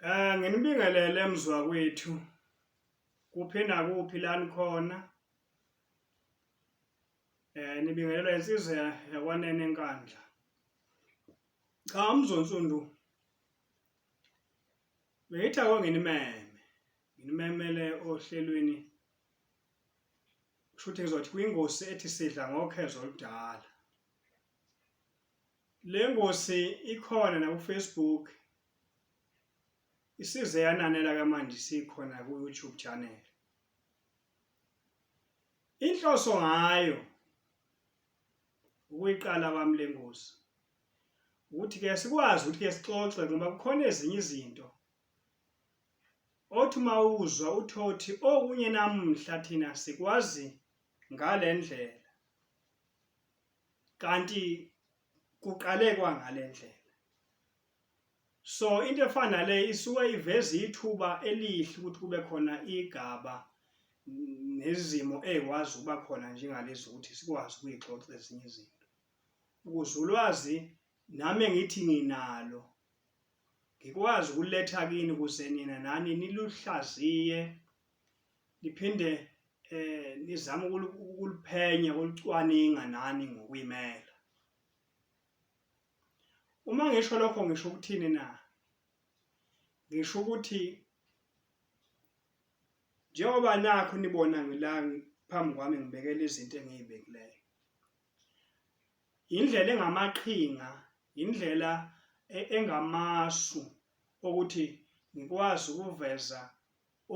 Eh nginibingelele mzwa kwethu kuphi nakuphi la nikhona eh nibingelelwa insizwa yakwanene enkandla cha umzonsundu beyithi akonginimeme nginimemele ohlelweni kusho ukuthi ngizothi kwingosi ethi sidla ngokhezo oludala Le ngosi ikhona nakuFacebook isize yananela kamanje sikhona ku-YouTube channel inhloso ngayo ukuyiqala kwami le ngosi ukuthi ke sikwazi ukuthi ke sixoxe ngoba kukhona ezinye izinto othi uma uzwa uthothi okunye namuhla thina sikwazi ngale ndlela kanti kuqale kwangale ndlela so into efana nale isuke iveza ithuba elihle ukuthi kube khona igaba nezimo ezikwazi ukuba khona njengalezi ukuthi sikwazi ukuyixoxa ezinye izinto ukuze ulwazi nami engithi nginalo ngikwazi ukuletha kini ukuze nina nani niluhlaziye niphinde eh nizama ukuliphenya ukulicwaninga nani ngokuyimela uma ngisho lokho ngisho ukuthini na ngisho ukuthi njengoba nakho nibona ngila phambi kwami ngibekela izinto engiyibekileyo indlela engamaqhinga indlela e-, engamasu okuthi ngikwazi ukuveza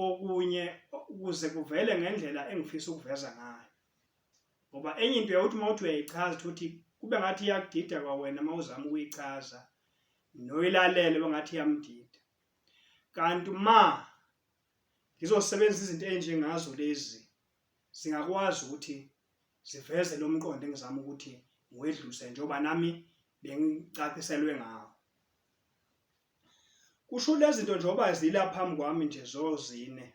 okunye ukuze kuvele ngendlela engifisa ukuveza ngayo ngoba enye into yawuthi uma uthi uyayichaza ukuthi kube ngathi iyakudida kwawena uma uzama ukuyichaza noyilalele bengathi iyamdida kanti uma ngizosebenzisa izinto enjengazo lezi zingakwazi ukuthi ziveze lo mqondo engizama ukuthi ngiwedluse njengoba nami bengicaciselwe ngawo Kusho lezi zinto njengoba zila phambi kwami nje zozine.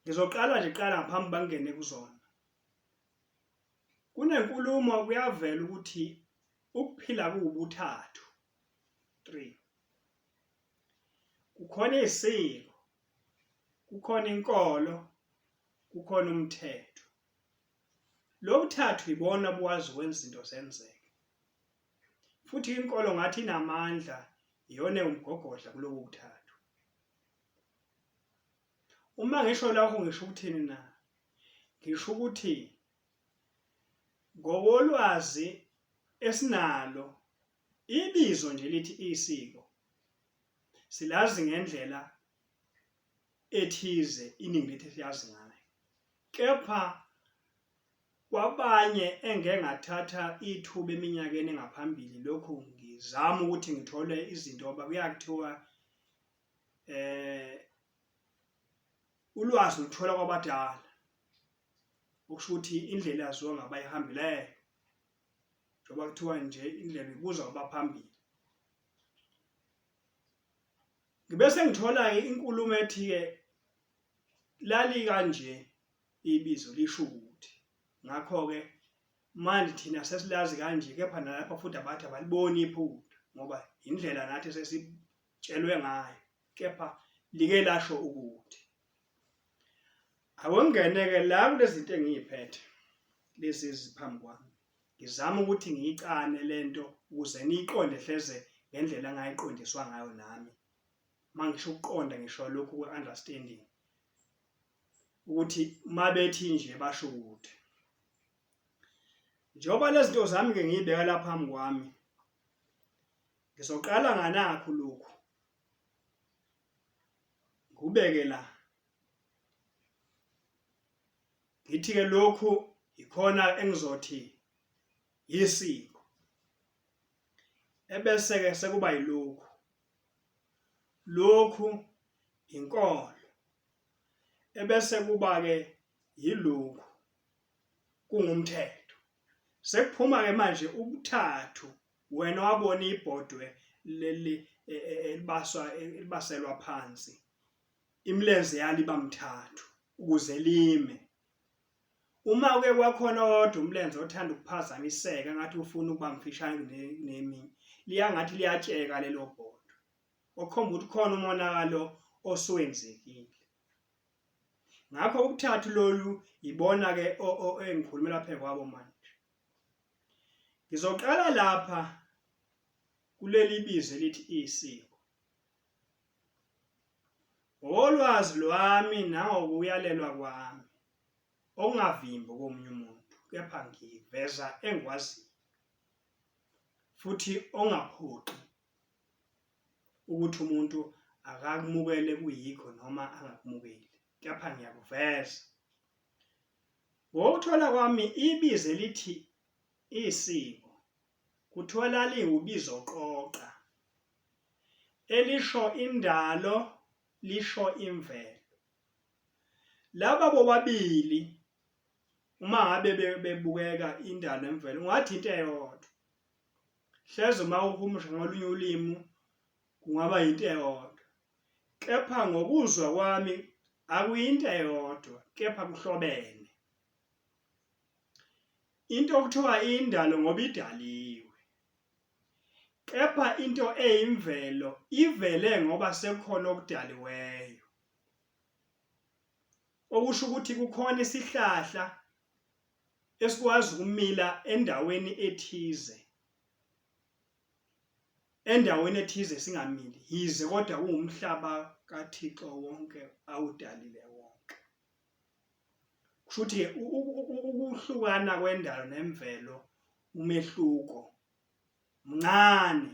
Ngizoqala nje qala ngaphambi bangene kuzona. Kunenkulumo kuyavela ukuthi ukuphila kuwubuthathu. 3. Kukhona isiko, kukhona inkolo, kukhona umthetho. Lobuthathu ibona buwazi wenza izinto zenzeke. Futhi inkolo ngathi inamandla iyona ewumgogodla kulobo buthathu. Uma ngisho lapho ngisho ukuthini na? Ngisho ukuthi ngokolwazi esinalo ibizo nje lithi isiko silazi ngendlela ethize iningi lethu siyazi ngayo kepha Kwabanye engike ngathatha ithuba eminyakeni engaphambili lokhu ngizama ukuthi ngithole izinto ngoba kuya kuthiwa eh ulwazi luthola kwabadala okusho ukuthi indlela yaziwa ngabayihambeleyo njengoba kuthiwa nje indlela ibuzwa abaphambili ngibe sengithola-ke inkulumo ethi-ke lali kanje ibizo lisho ukuthi ngakho-ke manje thina sesilazi kanje kepha nalapha futhi abathi abaliboni iphutha ngoba indlela nathi sesitshelwe ngayo kepha like lasho ukuthi awengene-ke la kulezi zinto engiyiphethe lezi eziphambi kwami ngizama ukuthi ngiyicane le nto ukuze niyiqonde hleze ngendlela engayiqondiswa ngayo nami uma ngisho ukuqonda ngisho lokhu kwe-understanding ukuthi uma bethi nje basho ukuthi njengoba lezi zinto zami ke ngiyibeka lapha phambi kwami ngizoqala nganakho lokhu ngubeke la ngithi ke lokhu ikhona engizothi yisiko ebese ke sekuba yilokhu lokhu inkolo ebese kuba ke yilungu kungumthetho sekuphuma ke manje ubuthathu wena wabona ibhodwe leli e, e, elibaswa elibaselwa phansi imilenze yaliba mthathu ukuze lime uma uke kwakhona kodwa umlenze othanda ukuphazamiseka ngathi ufuna ukuba mfishane nemi liyangathi liyatsheka lelo bhodwe okhomba ukuthi khona umonakalo osuwenzekile ngakho ukuthathu lolu yibona ke engikhulumela phe kwabo manje ngizoqala lapha kuleli bizo elithi isiko ngolwazi lwami nangokuyalelwa kwami okungavimbi komunye umuntu kepha ngiveza engikwaziyo futhi ongaphoqi ukuthi umuntu akakumukele kuyikho noma angakumukeli kepha ngiyakuveza ngokuthola kwami ibize lithi isiko kuthiwa laliwubizo qoqa elisho indalo lisho imvelo laba bobabili uma ngabe bebukeka indalo nemvelo ungathi into eyodwa Hleze uma uhumusha ngakolunye ulimi kungaba yinto eyodwa, kepha ngokuzwa kwami akuyinto eyodwa kepha kuhlobene. Into okuthiwa indalo ngoba idaliwe, kepha into eyimvelo ivele ngoba sekukhona okudaliweyo. Okusho ukuthi kukhona isihlahla esikwazi ukumila endaweni ethize endaweni ethize singamili yize kodwa kuwumhlaba kaThixo wonke awudalile wonke kusho ukuthi ukuhlukana kwendalo nemvelo umehluko mncane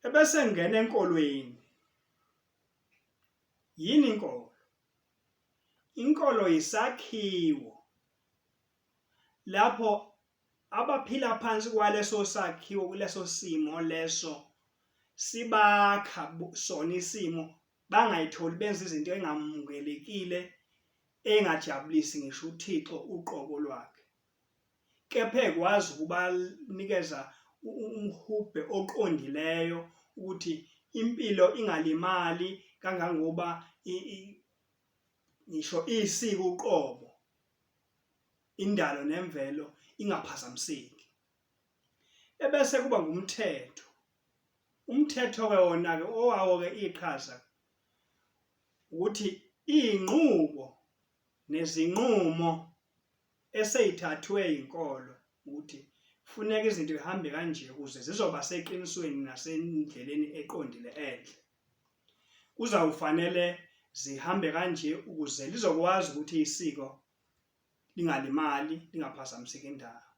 ebese ngena enkolweni yini inkolo Inkolo yisakhiwo lapho abaphila phansi kwaleso sakhiwo kuleso simo leso sibakha sona isimo bangayitholi benza izinto engamukelekile engajabulisi ngisho uThixo uqobo lwakhe kepha ekwazi ukubanikeza umhubhe oqondileyo ukuthi impilo ingalimali kangangoba ngisho isiko uqobo indalo nemvelo ingaphazamiseki ebese kuba ngumthetho umthetho ke wona ke owawo ke iqhaza ukuthi inqubo nezinqumo eseyithathwe yinkolo ukuthi funeka izinto zihambe kanje ukuze zizoba seqinisweni nasendleleni eqondile enhle kuzawufanele zihambe kanje ukuze lizokwazi ukuthi isiko lingalimali lingaphazamiseki indawo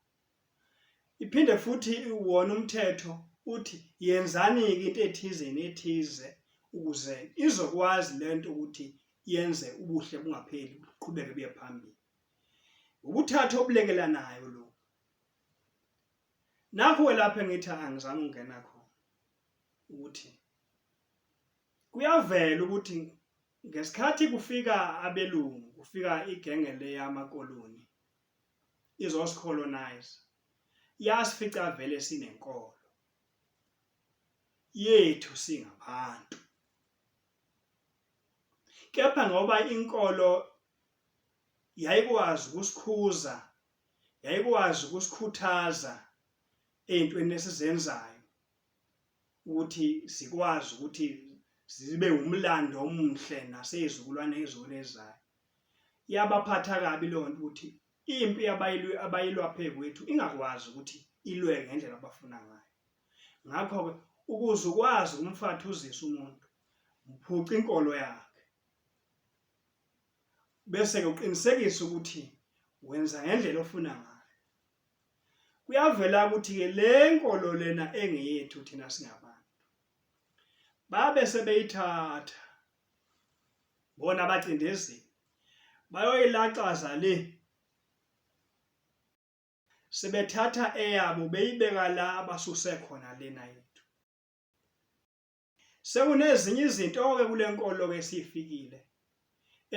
iphinde futhi wona umthetho uthi yenzani-ke into ethize nethize ukuze izokwazi le nto ukuthi yenze ubuhle bungapheli buqhubeke buye phambili ukuthatha obulekelanayo lo nakho lapho engithi angizange ungena khona ukuthi kuyavela ukuthi ngesikhathi kufika abelungu kufika igenge leyamakoloni izosicolonize yasifica vele sinenkolo yethu singabantu kepha ngoba inkolo yayikwazi ukusikhuza yayikwazi ukusikhuthaza ey'ntweni esizenzayo ukuthi zikwazi ukuthi zibe wumlando omuhle nasey'zukulwane ezone ezayo yabaphatha kabi leyo nto ukuthi impi abayilwa phe kwethu ingakwazi ukuthi ilwe ngendlela abafuna ngayo ngakho-ke ukuze ukwazi ukumfathuzisa umuntu mphuca inkolo yakhe bese-ke uqinisekise ukuthi wenza ngendlela ofuna ngayo kuyavela ukuthi-ke le nkolo lena engeyethu thina singabantu babe sebeyithatha bona abacindezeli bayoyilaxaza le sebethatha eyabo beyibeka la basuse khona lena yethu Sekunezinye izinto-ke kule nkolo-ke esiyifikile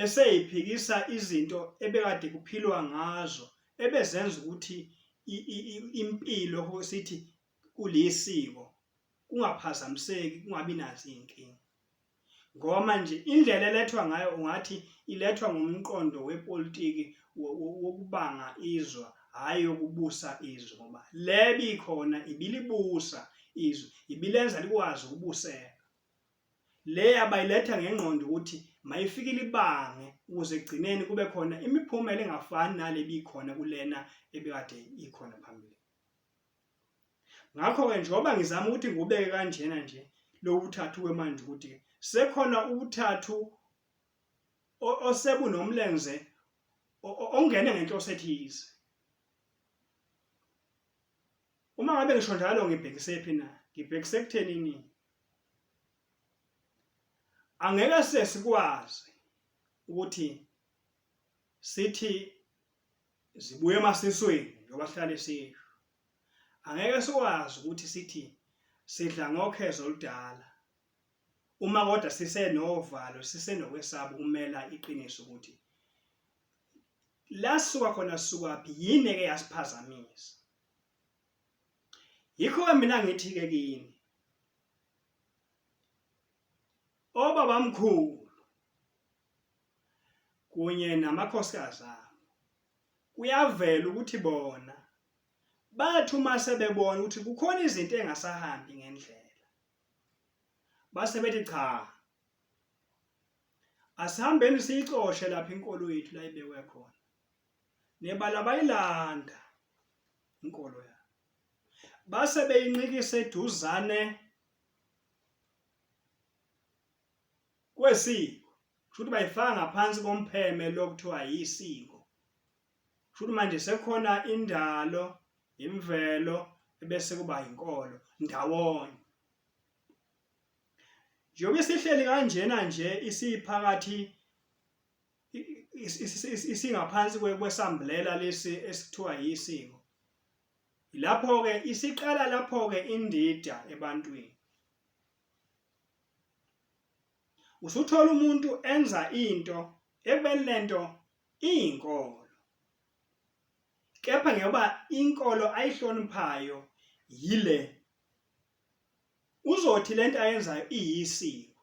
eseyiphikisa izinto ebekade kuphilwa ngazo ebezenza ukuthi impilo sithi kulesiko kungaphazamiseki kungabi nazo izinkinga ngoba manje indlela elethwa ngayo ungathi ilethwa ngomqondo wepolitiki wokubanga izwa hhayi yokubusa izwe ngoba le bikhona ibilibusa izwe ibilenza likwazi ukubuseka le abayiletha ngengqondo ukuthi mayifike libange ukuze egcineni kube khona imiphumela engafani nale bikhona kulena ebekade ikhona phambili ngakho-ke njengoba ngizama ukuthi ngikubeke kanjena nje lokuthathu kwemanje ukuthi sekhona ukuthathu osebu nomlenze ongene ngenhloso ethize uma ngabe ngisho njalo ngibhekise phi na ngibhekise kuthenini angeke sesikwazi ukuthi sithi zibuye emasisweni njengoba sihlale sisho angeke sikwazi ukuthi sithi sidla ngokhezo oludala Uma kodwa sisenovalo, sisenokwesaba ukumela iqiniso ukuthi lasuka khona sukaphi yini eke yasiphazamisa. Yikho-ke mina ngithi-ke kini obabamkhulu kunye namakhosikazi abo kuyavela ukuthi bona bathi uma sebebona ukuthi kukhona izinto engasahambi ngendlela base bethi cha asihambeni siyixoshe lapha inkolo yethu la ibekwe khona nebala bayilanda inkolo ya base beyinqikise eduzane kwesiko kusho ukuthi bayifaka ngaphansi kompheme lokuthiwa yisiko Shuthi manje sekhona indalo, imvelo ebese kuba inkolo ndawonye. Njengoba sihleli kanjena nje isiphakathi isingaphansi kwesamblela lesi esithiwa yisiko. Lapho ke isiqala lapho ke indida ebantwini. Usuthola umuntu enza into ebekulento iyinkolo kepha ngoba inkolo ayihloniphayo yile uzothi lento ayenzayo iyisiko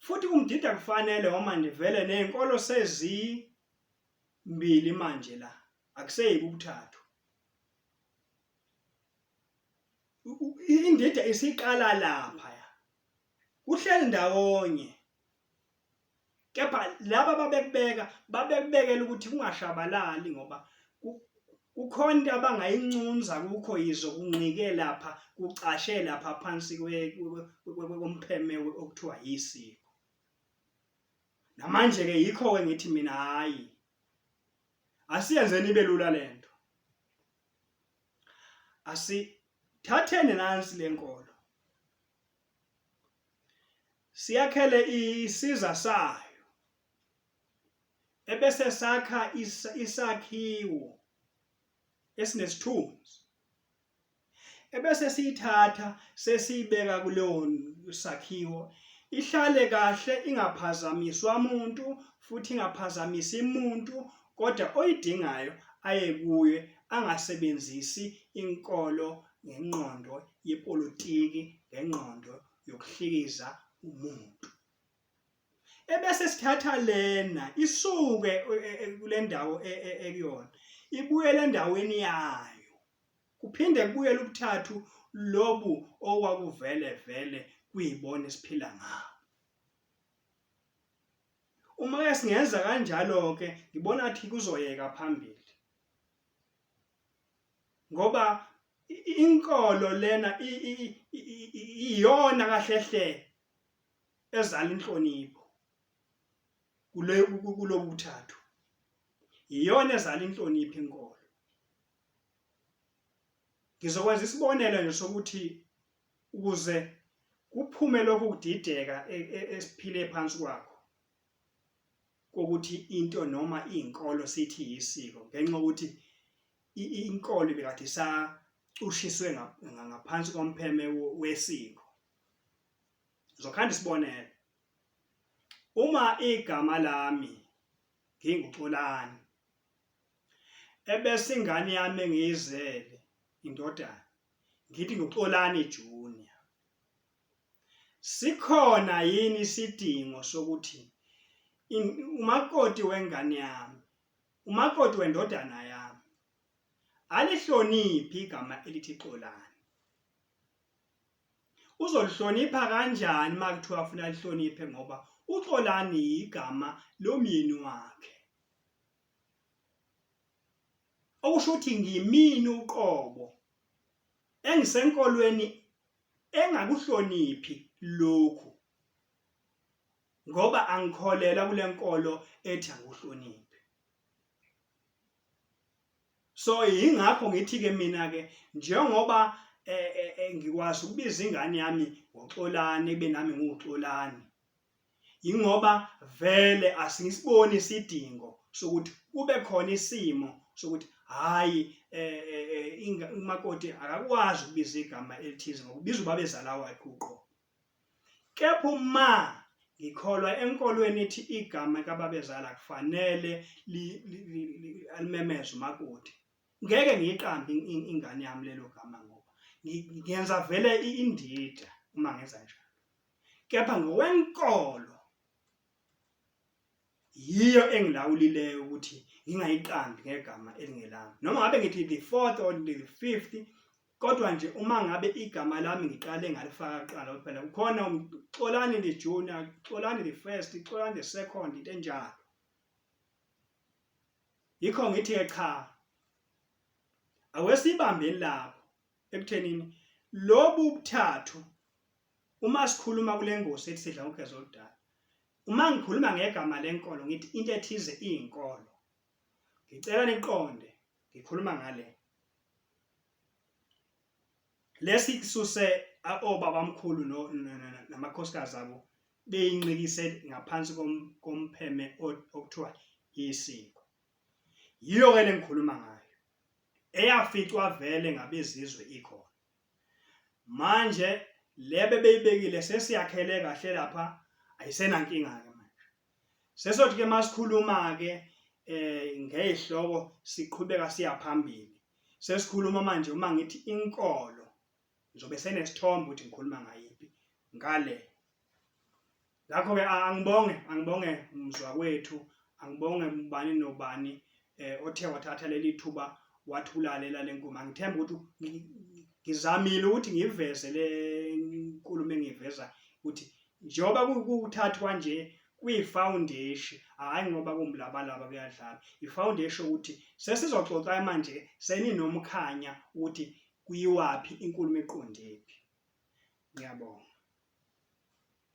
futhi kumdida kufanele uma ndivele nezinkolo sezimbili manje la akuseyike ukuthathu indida isiqala lapha kuhleli ndawonye kepha laba babekubeka babekubekela ukuthi kungashabalali ngoba kukhona into abangayincunza kukho yizo kunqike lapha kucashe lapha phansi kompheme okuthiwa yisiko namanje ke yikho ke ngithi mina hayi asiyenzeni ibe lula lento asithatheni nansi lenkolo siyakhele isiza sayo ebese sakha isakhiwo esinesithunzi ebese siyithatha sesiyibeka kuleyo sakhiwo ihlale kahle ingaphazamiswa umuntu futhi ingaphazamisi umuntu kodwa oyidingayo aye kuye angasebenzisi inkolo ngenqondo yepolitiki ngenqondo yokuhlikiza umuntu ebese sithatha lena isuke e, e, e, kule ndawo ekuyona ibuyele endaweni yayo kuphinde kubuyele ukuthathu lobu okwakuvele vele kuyibona esiphila ngabo uma ke singenza kanjalo ke ngibona athi kuzoyeka phambili ngoba inkolo lena iyona kahle hle ezala inhlonipho kule kulobuthathu iyona ezala inhlonipho inkolo ngizokwenza isibonelo nje sokuthi ukuze kuphume lokhu kudideka e, e, esiphile phansi kwakho kokuthi into noma izinkolo sithi yisiko ngenxa ukuthi inkolo bekade isacushiswe ngaphansi kompheme wesiko ngizokhanda isibonelo uma igama lami nginguxolani ebese ingane yami engiyizele indodana ngithi nguxolani junior Sikhona yini isidingo sokuthi umakoti wengane yami, umakoti wendodana yami, alihloniphi igama elithi Xolani? Uzolihlonipha kanjani uma kuthiwa afuna alihloniphe ngoba uXolani yigama lomyeni wakhe. okusho ukuthi ngimini uqobo engisenkolweni engakuhloniphi lokhu ngoba angikholela kule nkolo ethi angihloniphi so yingakho ngithi ke mina ke njengoba eh, eh, eh, ngikwazi ukubiza ingane yami ngoxolani kube nami ngiwuxolani yingoba vele asingisiboni isidingo sokuthi kube khona isimo sokuthi hhayi eh, eh, eh, umakoti akakwazi ukubiza igama elithize ngokubiza ubabezala wakhe uqo kepha uma ngikholwa enkolweni ethi igama kababezala kufanele alimemeze umakoti ngeke ngiyiqambe ingane yami lelo gama ngoba ngenza vele indida uma ngenza njalo kepha ngokwenkolo yiyo engilawulileyo ukuthi ngingayiqambi ngegama elingelami noma ngabe ngithi the fourth or the fifth kodwa nje uma ngabe igama lami ngiqale ngalifaka kuqala kuphela kukhona xolani the junior xolani the first xolani the second into enjalo yikho ngithi ke cha awesibambeni lapho ekuthenini lobu buthathu uma sikhuluma kule ngosi ethi sidla ngogeza oludala uma ngikhuluma ngegama lenkolo ngithi into ethize iyinkolo ngicela niqonde ngikhuluma ngale lesi kususe obabamkhulu namakhosikazi abo beyinqikise ngaphansi kompheme okuthiwa isiko yiyo-ke le ngikhuluma ngayo eyaficwa vele ngabezizwe ikhona manje le bebeyibekile sesiyakhele kahle lapha ayisenankinga ke manje sesothi ke masikhuluma ke eh ngezihloko siqhubeka siya phambili sesikhuluma manje uma ngithi inkolo ngizobe senesithombe ukuthi ngikhuluma ngayiphi ngale ngakho-ke angibonge angibonge mzwakwethu angibonge ubani nobani eh othe wathatha leli thuba wathi ulalela lenkulumo angithemba ukuthi ngizamile ukuthi ngiveze le nkulumo engiveza ukuthi njengoba kuthathwa nje kwifoundation hayi ngoba kumlabalaba kuyadlala ifoundation ukuthi sesizoxoxa manje seninomkhanya ukuthi kuyiwaphi inkulumo eqondephi ngiyabonga